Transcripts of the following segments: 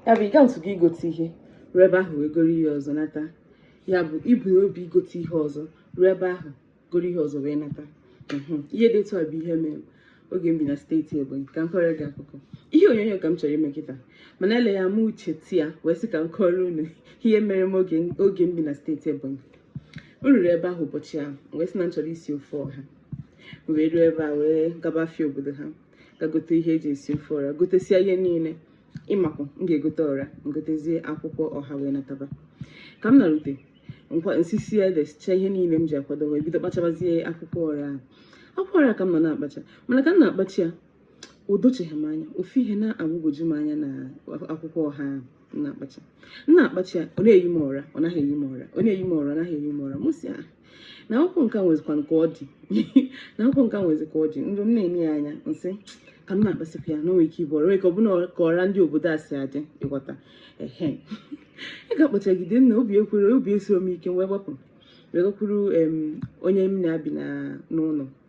ya bụ ị gatụgo igote ihe ruo ebe ahụ wee goro ihe ọzọ nata ya bụ ibu n'obi igote ihe ọzọ ruo ebe ahụ goro ihe ọzọ wee nata mhm. ihe dị etu a bụ ihe mere oge m bi na steeti Ebonyi ka m kọrọ gị akụkọ ihe onyonyo ka m chọrọ ime kịta mana eleghị anya m cheta ya wee sị ka m kọrọ unu ihe mere m oge m bi na steeti Ebonyi m ruru ebe ahụ ụbọchị ahụ wee sị na m chọrọ isi ofe ọha wee ruo ebe a wee gaba afịa obodo ha gaa gote ihe e ji esi ofe ọra gotesia ihe niile ịmakwa m ga-egote ọra m gotezie akwụkwọ ọha wee nataba ka m narute m sisie ede sicha ihe niile m ji akwado wee bido kpachabazie akwụkwọ ọra ahụ akwụkwọ ọra ka m nọ na-akpacha mana ka m na-akpacha ya o docheghị m anya ofu ihe na-agbagwoju m anya na akwụkwọ ọha ahụ na-akpacha m na-akpacha ya ọ na-eyi m ọra ọ naghị eyi m ọra ọ na-eyi m ọra ọ naghị eyi m ọra m sị na akwụkwọ nke a nwezikwa ka ọ dị na akwụkwọ nke a nwezi ka ọ dị ndụ m na-enye ya anya m sị ka m na-akpasịpụ ya na o nwee ike ịbụ ọra ka ọ bụ ka ọra ndị obodo a si adị ị ghọta ehe ị ga-akpachagide na obi ekwero obi esiro m ike wee gbapụ wee gakwuru onye m na ya bi n'ụnọ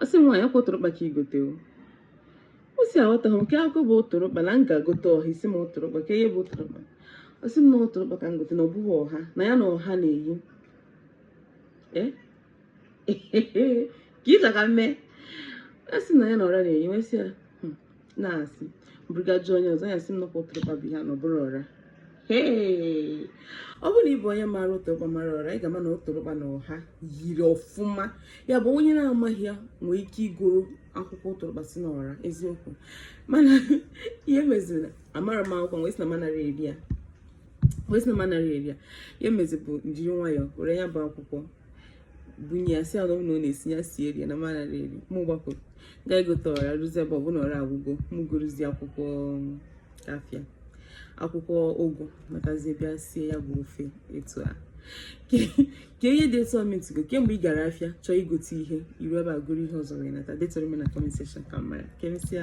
ọ sị m nwaanyị ọ kwa ụtụrụkpa ka i gote o ọ sị aghọtaghị m nke a kwa bụ ụtụrụkpa na m ga egote ọha ị sị m ụtụrụkpa kee ihe bụ ụtụrụkpa ọ sị m na ụtụrụkpa ka m gote na ọ bụghị ọha na ya na ọha na-eyi ee ka ị sị ka m mee a sị na ya na ọra na-eyi m wee sị ya na asị buru gaa jụọ onye ọzọ ya sị m na ọ kwa ụtụrụkpa bụ ihe a na ọ bụrọ ọra Hey! ọ bụrụ na ị bụ onye maara ụtụrụkpa mara ọra ị ga-ama na ụtụrụkpa na ọha yiri ọfụma ya bụ onye na-amaghị ya nwee ike igoro akwụkwọ ụtụrụkpa sị na ọra eziokwu mana ihe meziri na amarọ m akwụkwọ wee sị na m anarọ eri ya ihe m mezi bụ m jiri nwayọọ were ya bụ akwụkwọ bunye ya sị ya na ọ na-esi ya sie rie na m ama eri mụ gbapụ ga egote ọra ruzie ebe ọbụla ọra agwụgo mụ gorozie akwụkwọ um, afịa akwụkwọ ụgụ natazie bịa sie ya bụ ofe etu a ka ihe dị etu a o metụgo kemgbe ị gara afịa chọọ igote ihe i ruo ebe a goro ihe ọzọ wee nata detuoro m na comment section ka m mara ka emesịa